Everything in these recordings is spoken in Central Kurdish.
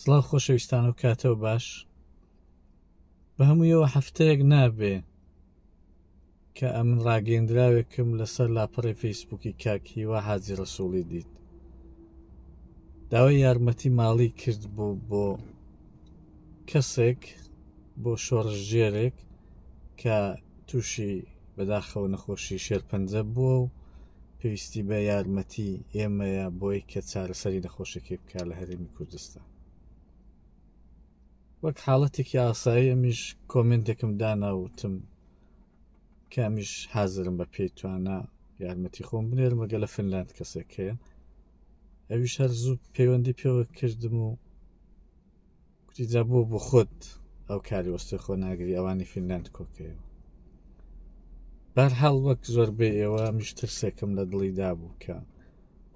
سڵاو خۆشەویستان و کاتەوە باش بە هەموویەوە هەفتەیەک نابێ کە ئەمن ڕاگەندراوێکم لەسەر لاپەڕی فەیسبووکی کاک هیوا حاجی ڕسوڵی دیت داوای یارمەتی ماڵی کرد بوو بۆ کەسێک بۆ شۆڕژگێرێک کە تووشی بەداخەوە نەخۆشی شێرپەنجە بووە و پێویستی بە یارمەتی ئێمەیە بۆی کە چارەسەری نەخۆشەکەی بکە لە هەرێمی کوردستان وەک حاڵەتێکی ئاسایی ئەمیش کۆمنتێکم داناوتم کامیش حازرم بە پێی توانە یارمەتی خۆم بنێرمەگە لە فنلاند کەسێک هەیە ئەویش هەر زوو پەیوەندی پێوە کردم و کوتی جا بۆ بۆ خۆت ئەو کاری وەستۆی خۆ ناگری ئەوانی فینلاند کۆکەیەوە بار هەڵ وەک زۆر بێ ئێوە میش ترسێکم لە دڵی دابوو کە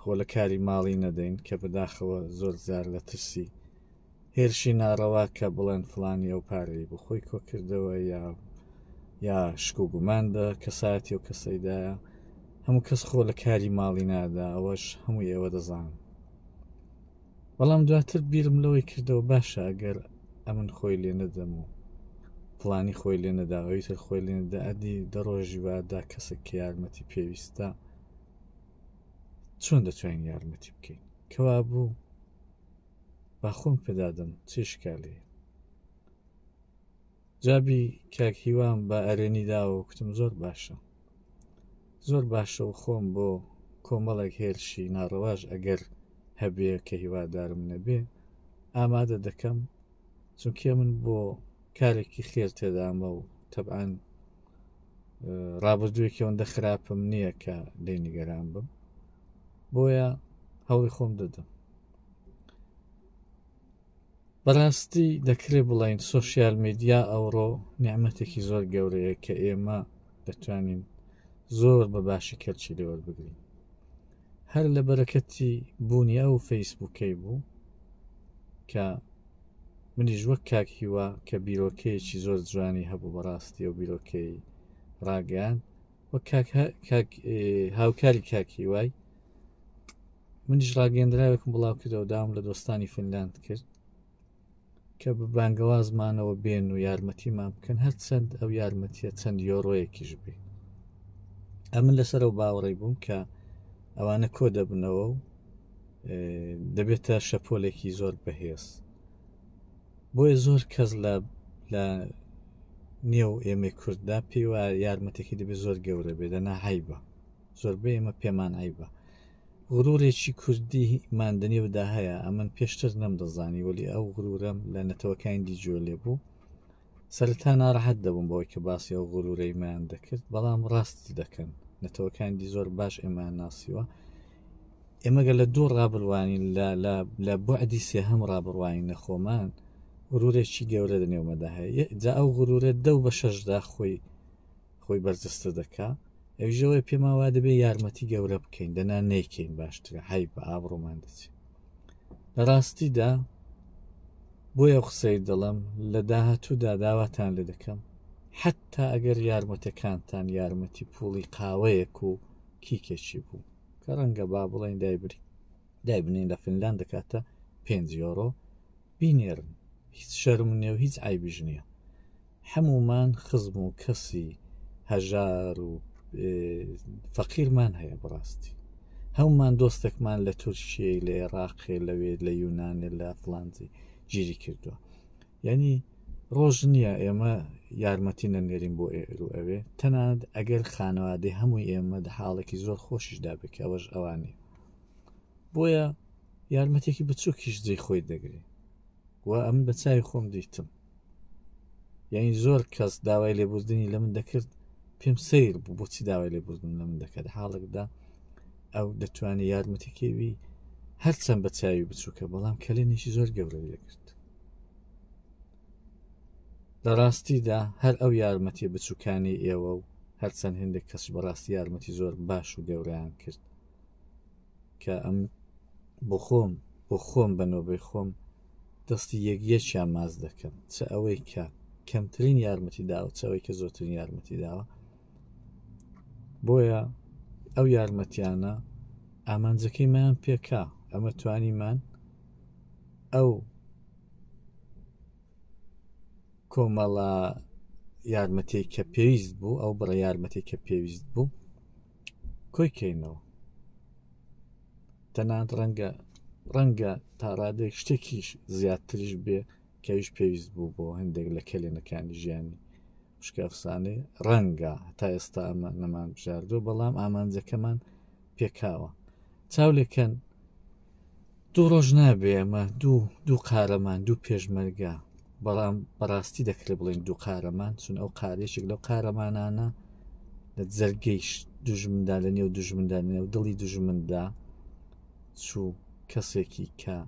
خۆ لە کاری ماڵی نەدەین کە بەداخەوە زۆر زار لە ترسی هێرشی ناڕەوا کە بڵێن فلانی ئەو پارەی بۆ خۆی کۆکردەوە یا یا شک و گومان بە کەسایەتی و کەسەیدایە هەموو کەس خۆ لە کاری ماڵی نادا ئەوەش هەموو ئێوە دەزانن بەڵام دواتر بیرم لەوەی کردەوە باشە ئەگەر ئەمن خۆی لێ نەدەم و فڵانی خۆی لێ نەدا ئەوی تر خۆی لێ نەدا ئەدی دەڕۆژی وادا کەسێک کە یارمەتی پێویستە چۆن دەتوانین یارمەتی بکەین کەوا بوو باخۆم پێدادەم چی شکالەیە جابی کاک هیوام بە ئەرێنی داوە و کوتم زۆر باشە زۆر باشە و خۆم بۆ کۆمەڵێک هێرشی ناڕەواش ئەگەر هەبێ کە هیوادارم نەبێ ئامادە دەکەم چونکێ من بۆ کارێکی خێر تێدامە و تەبان ڕابردووێکی ئەوەندە خراپم نییە کە دەی نیگەران بم بۆیە هەوڵی خۆم دەدەم بەراستی دەکرێ بڵێین سۆشیال میدیا ئەوڕۆ نیعمەتێکی زۆر گەورەیە کە ئێمە دەتوانین زۆر بە باشی کەلچی لێوەربگرین هەر لە بەرەکەتی بوونی ئەو فەیسبووکەی بوو کە منیش وەک کاک هیوا کە بیرۆکەیەکی زۆر جوانی هەبوو بەڕاستی و بیرۆکەی ڕاگەیان وەک کاک هە- کاک ئێ، هاوکاری کاک هیوای منیش ڕاگەندراوێکم بڵاو کردەوە داوم لە دۆستانی فنلاند کرد کە بە بانگەوازمانەوە بێن و یارمەتیمان بکەن هەر چەند ئەو یارمەتیە چەند یۆڕۆیەکیش بێ ئەمن لەسەر ئەو باوەڕی بووم کە ئەوانە کۆ دەبنەوە و ئێ، دەبێتە شەپۆلێکی زۆر بەهێز بۆیە زۆر کەس لە لە نێو ئێمەی کورددا پێی وایە یارمەتێکی دەبێت زۆر گەورە بێت دەنا عیبە زۆربەی ئێمە پێمان عیبە غرورێکی کوردی مادەنێودا هەیە ئەمن پێشتر نەمدەزانی وەلی ئەو غرورەم لە نەتەوەکانی دیجۆ لێ بوو سەرتا ناڕەحەت دەبووم بەوەی کە باسی ئەو غرورەیمان دەکرد بەڵام ڕاست دەکەن نەتەوەکان دی زۆر باش ئێمان ناسیوە ئێمە گەر لە دوو ڕا بڕوانین، لە لە لە بوعدی سێهەم ڕا بڕوانین لە خۆمان، غرورێکی گەورە لە نێومەدا هەیە، ئێ جا ئەو غرورە دەو بە شەشدا خۆی خۆی بەرجەستە دەکا، ئەویش ئەوەیە پێمان وا دەبێ یارمەتی گەورە بکەین، دەنا نەیکەین باشترە، عەیبە، ئابڕوومان دەچێ. لە ڕاستیدا بۆیە ئەو قسەی دەڵێم لە داهاتوودا داواتان لێ دەکەم، حەتتا ئەگەر یارمەتەکانتان یارمەتی پووڵی قاوەیەک و کیکێکی بوو، کە ڕەنگە با بڵێن دایبری دایبنین لە فنلان دەکاتە پێنج یۆرۆ بینێرن هیچ شەرم نیە و هیچ ئایبیژ نییە هەمومان خزم و کەسی هەژار و فەقیرمان هەیە بڕاستی هەمومان دۆستێکمان لە تورکیە لە عێراقێ لەوێ لە یونانێ لە فلانزی گیری کردووە یعنی ڕۆژ نییە ئێمە یارمەتی نەنێرین بۆ ئێرو ئەوێ تەنانەت ئەگەر خانەوادەی هەمووی ئێمە دە حاڵێکی زۆر خۆشیشدا بکە ئەوەش ئەوانی بۆیە یارمەتێکی بچووکیش جێ خۆی دەگری و ئەم بە چاوی خۆم دیتم یعنی زۆر کەس داوای لێبوردنی لە من دەکرد پێم سیر بوو بۆچی داوای لێبوردن لە من دەکات حاڵێکدا ئەو دەتوانێت یارمەتیکەوی هەرچەند بە چاوی بچووکە بەڵام کەلێنێکی زۆر گەورەی دەکرد لە ڕاستیدا هەر ئەو یارمەتی بچووکانی ئێوە و هەرچەند هندێک کەس بەڕاستی یارمەتی زۆر باش و گەوریان کرد کە ئەم بۆ خۆم بۆ خۆم بە نۆبەی خۆم دەستی یەکیەکیان ماز دەکەم چ ئەوەی کە کەمترین یارمەتی داوە چەوەی کە زۆترین یارمەتی داوە بۆیە ئەو یارمەتیانە ئامانجەکەی مایان پێکا ئەمە توانیمان ئەو کۆمەڵە یارمەتی کە پێویست بوو ئەو بڕە یارمەتی کە پێویست بوو کۆی کەینەوە تەنان ڕەنگە ڕەنگە تا ڕادێک شتێکیش زیاتریش بێ کەویش پێویست بوو بۆ هەندێک لە کەلێنەکانی ژیانی شکافسانێ ڕەنگە تا ئێستا ئەمە نەمان بژاردو بەڵام ئامانجەکەمان پێکاوە چاو لێکەن دوو ڕۆژ نابێ ئەمە دوو دوو قارەمان دوو پێشمەرگە بەڵام بەڕاستی دەکرێت بڵێن دوو قارەمان چون ئەو قارێشێک لەو قارەمانانە لە جەرگەیش دژمندا لە نێو دژمندا نێو دڵی دژمندا چوو کەسێکی کە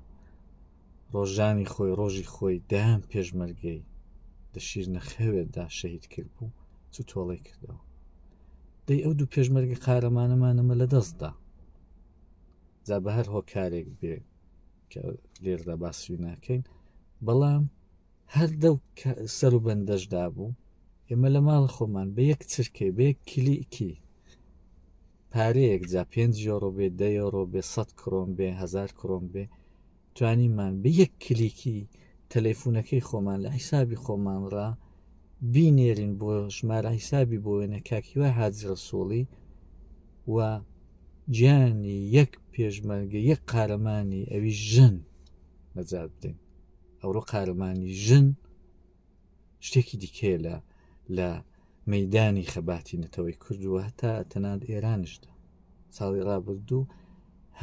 ڕۆژانی خۆی ڕۆژی خۆی دەیان پێشمەرگەی لە شیر نەخەوێتدا شەهید کرد بوو چ تۆڵی کردەوە دەی ئەو دوو پێشمەرگی قارەمانەمانەمە لە دەستدا جا بە هەر هۆکارێک بێ کە لێردا باسی ناکەین بەڵام هەر دەو سەر و بەندەشدا بوو ئێمە لە ماڵ خۆمان بە یەک چرکەی بە یەک کلیکی پارەیەک جا پێنج یۆرۆ بێ دە یۆرۆ بێ سەد کرۆم بێ هزار کرۆم بێ توانیمان بە یەک کلیکی تەلەفونەکەی خۆمان لە حیسابی خۆمانڕا بینێرین بۆ ژمارە حیسابی بۆ وێنە کاکیوە حاجی ڕسوڵی و گیانی یەک پێشمەرگە یەک قارەمانی ئەوی ژن نەجات بدەین ئەوڕۆ قارەمانی ژن شتێکی دیکەیە لە لە مەدانی خەباتی نەتەوەی کردووە هەتا تەنات ئێرانشدا ساڵی ڕابردوو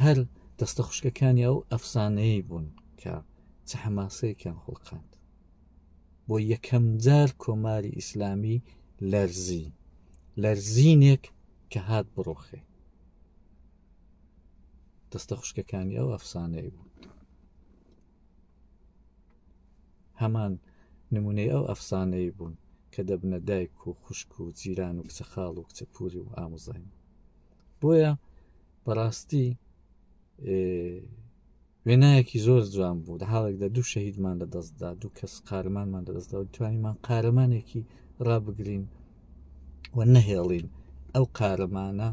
هەر دەستە خوشکەکانی ئەو ئەفسانەیە بوون کە چە حەماسەیەکیان خوڵقاند بۆ یەکەم جار کۆماری ئیسلامی لەرزی لەرزینێک کە هات بڕۆخێ دەستە خوشکەکانی ئەو ئەفسانەی بوو هەمان نمونەی ئەو ئەفسانەی بوون کە دەبنە دایک و خوشک و جیران و کچە خاڵ و کچە پوری و ئاموزای بۆیە بەڕاستی وێنایەکی زۆر جوان بوو لە حاڵێکدا دوو شەهیدمان لە دەستدا دوو کەس قارمانمان لە دەستدا توانیمان قارەمانێکی ڕابگرین و نەهێڵین ئەو قارەمانە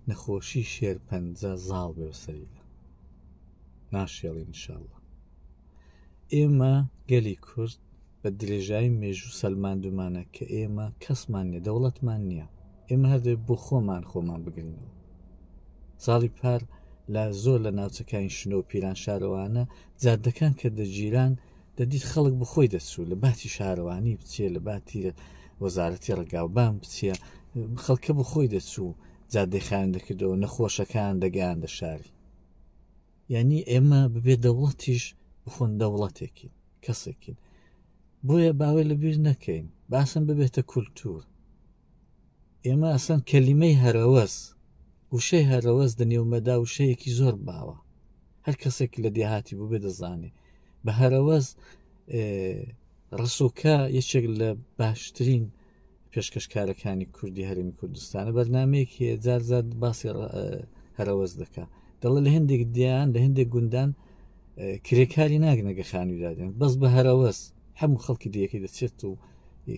نەخۆشی شێرپەنجە زاڵ بێ سەریدا ناشێڵین انشاءاللە ئێمە گەلی کورد بە درێژایی مێژوو سەلماندومانە کە ئێمە کەسمان نیە دەوڵەتمان نییە ئێمە هەردێ بۆ خۆمان خۆمان بگرینەوە ساڵی پار لە زۆر لە ناوچەکانی شنۆ پیران شارەوانە جادەکان کە دەگیران دەدیت خەڵک بخۆی دەچوو لە باتی شارەوانی بچێ لە باتی وەزارەتی ڕگاوبان بچە خەڵکە بخۆی دەچوو جادەخان دەکردەوە نەخۆشەکان دەگەیان دە شاری یعنی ئێمە ببێ دەوڵەتیش بخۆن دەوڵەتێکین کەسێکین بۆیە باوەی لەبیر نەکەین باسم ببێتە کولتور ئێمە ئەسەن کەلیمەی هەرەوەز وشەی هەرەوەز دەنێومەدا وشەیەکی زۆر باوە هەر کەسێک لە دێهاتی بوو بێ دەزانێ بە هەرەوەز ڕسوکە یەکێک لە باشترین پێشکەشکارەکانی کوردی هەرمی کوردستانە بەرنمەیەک هەیە جارزاد باسی هەرەوەز دەکە دەڵە لە هەندێک دیان لە هەندێک گوندان کرێکاری ناگنەگە خانوویدادێن بەس بە هەرەوەز هەموو خەڵکی دیەکەی دەچێت و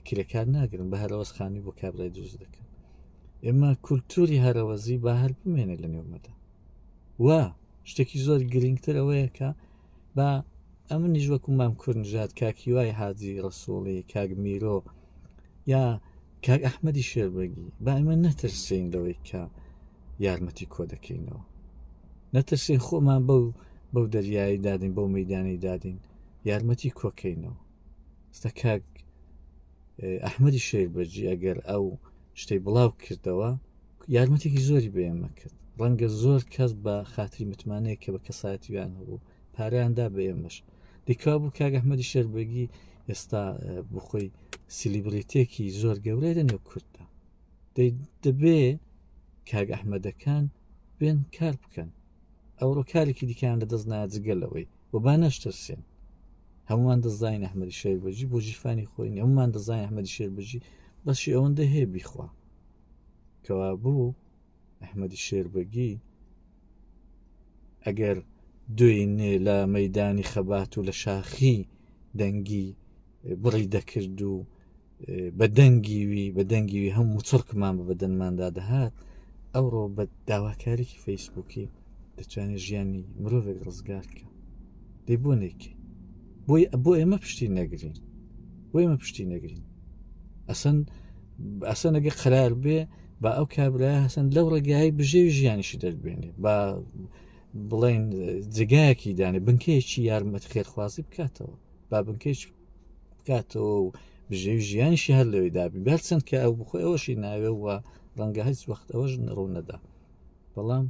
کرێکار ناگرن بە هەرەوەز خانی بۆ کابرای دروست دەکەن ئێمە کولتوری هەرەوەزی با هەر بمێنێت لە نێومەدا و شتێکی زۆر گرنگتر ئەوەیە کە با ئەمنیش وەکو مام کورنژات کاکی وای حاجی ڕسوڵی کاک میرۆ یا کاک ئەحمەدی شێربەگی با ئمە نەترسین لەوەی کە یارمەتی کۆ دەکەینەوە نەترسین خۆمان بەو بەو دەریایی دادین بەو مەدانی دادین یارمەتی کۆکەینەوە ستە کاک ئەحمەدی شێک بەجی ئەگەر ئەو شتەی بڵاو کردەوە یارمەتێکی زۆری بەێمە کرد ڕەنگە زۆر کەس بە خاتری متمانەیە کە بە کەساتیان هەبوو پاریاندا بە ئێمەش دیکا بوو کاگەحمەدی شێربەگی ئێستا بخۆی سیلیبریتێکی زۆر گەورەی لە نێو کورددا دەبێ کاگ ئەحمەدەکان بێن کار بکەن ئەوڕۆ کارێکی دیکەیان لە دەست ناجگەلەوەی و با نەشترسێن هەمومان دەزانین ئەحمەدی شێر بەجی بۆ جیفانی خۆین هەمومان دەزانین ئەحمەدی شێر بژی بەشی ئەوەندە هەیە بیخوا کەوا بوو ئەحمەدی شێربەگی ئەگەر دوێنێ لە مەدانی خەبات و لە شاخی دەنگی بڕی دەکرد و بە دەنگیوی بە دەنگیوی هەم وچڕکمان بە بەدەنماندا دەهات ئەوڕۆ بە داواکارێکی فەیسبووکی دەتوانێت ژیانی مرۆڤێک ڕزگار کە دەی بۆ نێکی بۆی بۆ ئێمە پشتی نەگرین بۆ ئێمە پشتی نەگرین ئەسەن ئەسەنەگە قرار بێ با ئەو کابرا هەسەن لەو ڕێگای بژێ ژیانیشی دەربێنێ با بڵێن جگایەکی دانێ بنکەیەکی یارمەت خێرخوازی بکاتەوە با بنکەیش بکاتەوە و بژێوی ژیانیشی هەر لەوەی دابی بەر چەند کە ئەو بخۆی ئەوەشی ناوێ وە ڕەنگە هەست وەخت ئەوەش ڕوو نەدا بەڵام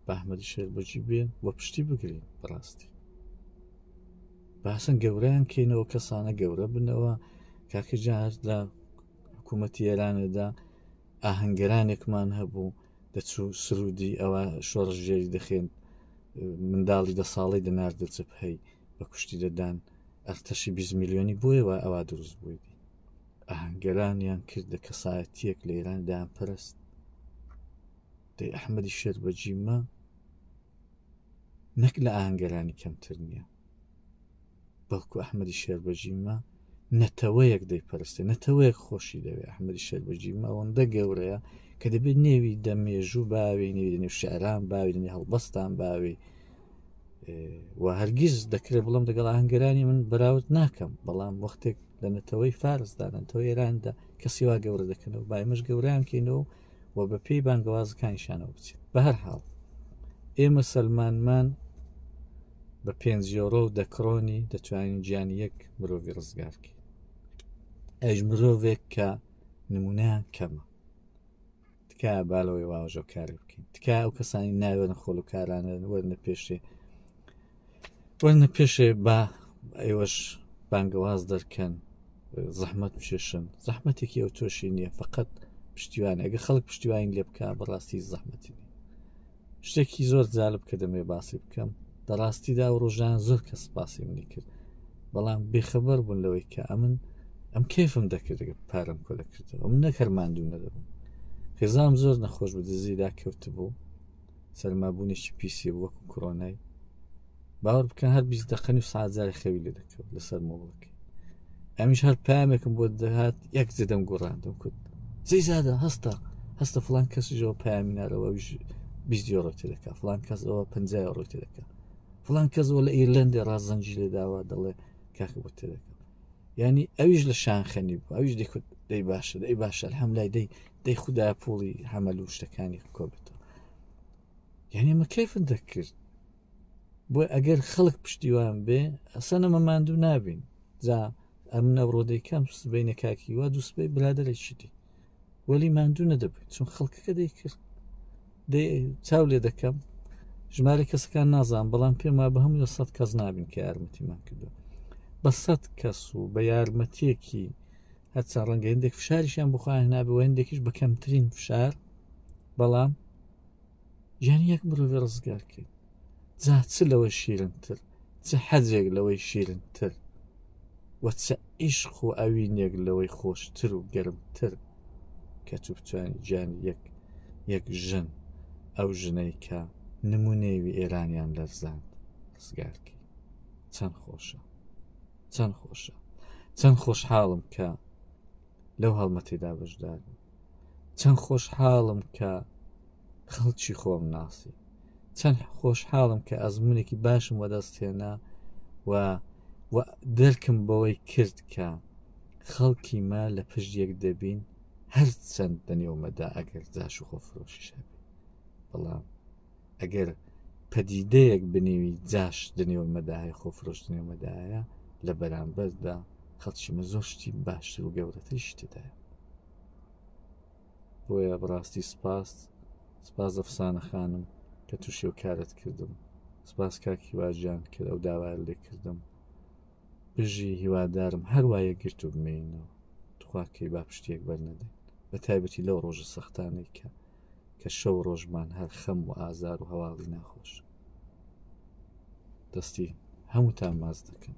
بەحمەدی شێر بەجی بێن وە پشتی بگرین بەڕاستی باسن گەوریان کەینەوە کەسانە گەورە بنەوە کاکە جار لە حکوومەتی ئێرانێدا ئاهەنگەرانێکمان هەبوو دەچوو سرودی ئەوە شۆڕژێری دەخێن منداڵی دە ساڵی دەناردە چپ هەی بە کوشتی دەدان ئەرتەشی 20 میلیۆنی بۆیە وای ئەوا دروست بوویدی ئاهەنگەرانیان کرد لە کەسایەتیەک لە ئێران دایان پەرست دەی ئەحمەدی شێر بەجیمە نەک لە ئاهەنگەرانی کەمتر نییە بەڵکو ئەحمەدی شێر بەجیمە نەتەوەیەک دەیپەرستێ نەتەوەیەک خۆشی دەوێ ئەحمەدی شەربەجی مەوەندە گەورەیە کە دەبێت نێوی دە مێژوو باوی نێوی دەنێ شعران باوی دەنێ هەڵبەستان باوی و هەرگیز دەکرێت بڵم دەگەڵ هەنگەرانی من بەراورد ناکەم بەڵام وەختێک لە نەتەوەی فارسدانەتەوە ئێراندا کەسیوا گەورە دەکەنەوە بایمەش گەوریان کەینەوە و بە پێی بانگەوازەکانیشانەوە بچێت بە هەر حاڵ ئێمە سەلمانمان بە پێنج یۆرۆ و دەکڕۆنی دەتوانین گیانی یەک مرۆڤی ڕزگارکەین ئەش مرۆڤێک کە نمونەیان کەمە تکایە بالەوەی واژۆ کاری بکەین تکایە ئەو کەسانی ناوێنە خۆلوکارانە وەرنە پێشێ وەرنە پێشێ با ئێوەش بانگەواز دەرکەن زەحمت بشێشن زەحمەتێکی ئەو تۆشی نییە فقط پشتیوان ئەگە خەڵک پشتیوانی لێ بکە بەڕاستی زەحمەتی شتێکی زۆر جالب کە دەمێ باسی بکەم لە ڕاستیدا و ڕۆژان زۆر کە سپاسی منی کرد بەڵام بێخەبەر بوون لەوەی کە ئەمن ئەم کێفم دەکرد پارەم کۆلە کردەوە من نەکەرماندوو نەدەبووم خێزام زۆر نەخۆش بە دزیدا کەوت بوو سەرمابوونێکی پیسی وەکو کۆرۆنای باوەڕ بکەن هەر بیست دقن و سازاری خەوی لێ دەکەوت لەسەر مۆڵەکەی ئەمیش هەر پامێکم بۆ دەهات یەک جدەم گوڕاندم کوت زی زیادە هەستە هەستە فلان کەسیەوە پامی نارەوە بیزیۆڕۆ تێدەکە فلان کەسەوە پ ڕۆ تێدەکە فلان کەسەوە لە ئیرلندی ڕازەنجی لێ داوا دەڵێ کاکە بۆ تێدەکە ینی ئەویش لە شانخەنی بوو ئەویش دەکوت دەی باشە دەی باشە هەم لای دەی دەی خدا پوڵی هەمەل و شتەکانی کۆبێتەوە یعنی مە کەفت دەکرد بۆ ئەگەر خەڵک پشتیوان بێ ئەسەنە مە ماندوو نابین جا ئەم نەڕۆ دەیکەم سبینە کاکی وا دوو سبەی برادێکی دی وەلی ماندوو نەدەبێت چون خەڵکەکە دەیکرد چاو لێ دەکەم ژمارە کەسەکان نازان بەڵام پێم وا بە هەموو سەد کەس نابین کە یارمەتیمان کردو بە سەد کەس و بە یارمەتیەکی هەرچە ڕەنگە هندێک فشاریشیان بخوایان هەنابێ و هندێکیش بە کەمترین فشار بەڵام یان یەک مرۆڤی ڕزگار کرد جا چ لەوە شیرنتر چ حەجێک لەوەی شیرنتر وە چ عیشق و ئەوینێک لەوەی خۆشتر و گەرمتر کە تو بتوانانی گیان یەک یەک ژن ئەو ژنەی کە نمونەیەوی ئێرانیان لەرزاند ڕزگارکی چەند خۆشە چەند خۆشە چەند خۆشحاڵم کە لەو هەڵمەتێدا بەشدار چەند خۆشحاڵم کە خەڵکی خۆم ناسی چەند خۆشحاڵم کە ئەزمونێکی باشم وەدەستێنە و دەرکم بەوەی کرد کە خەڵکی ما لە پشت یەک دەبین هەر چەند دەنێومەدا ئەگەر جاش و خۆفرۆشیش هەبێ بەڵام ئەگەر پەدیدەیەک بنێوی جاش دنێوە مەداهی خۆفرۆش دنێو مەدایە لە بەرامبەردا خەڵکیمە زۆر شتی باشتر و گەورەتری شتدایە بۆیە بڕاستی سپاس سپاس ئەفسانە خانم کە تووشێ و کارت کردم سپاس کاکی واژیان کە ئەو داوایان لێ کردم بژی هیوادارم هەروایە گرت و بمێنەوە تخواکەی با پشتێک بەرنەدەین بە تایبەتی لەو ڕۆژە سەختانەی کە کە شەو ڕۆژمان هەر خەم و ئازار و هەواڵی ناخۆش دەستی هەمووتان ماز دەکەن